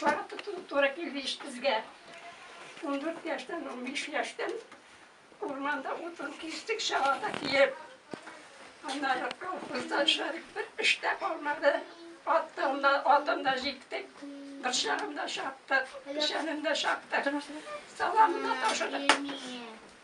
Вакыты туры килде ич безгә. Ундүрт яшьтән, унбиш яшьтән урманда утын кистек, чабата киеп. Аннары колхозда эшләдек, бер эш тә калмады. Ат та, атын да җиктек, борчагын да чаптык, печәнен дә чаптык, саламын да ташыдык.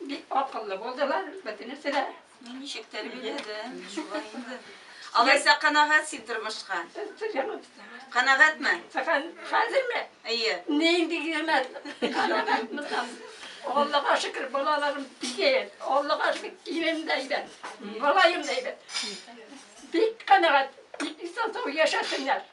Бик акыллы булдылар, бөтенесе дә. Ну, ничек тәрбияләде, шулай инде. Алайса канәгать син тормышка? Канәгатьме? Хәзерме? Әйе. Нинди генә канәгатьмисам. Аллага шөкер, балаларым бигәй. Аллага шөкер, ирем дә әйбәт, малаем да әйбәт. Бик канәгать, бик исән-сау яшәсеннәр.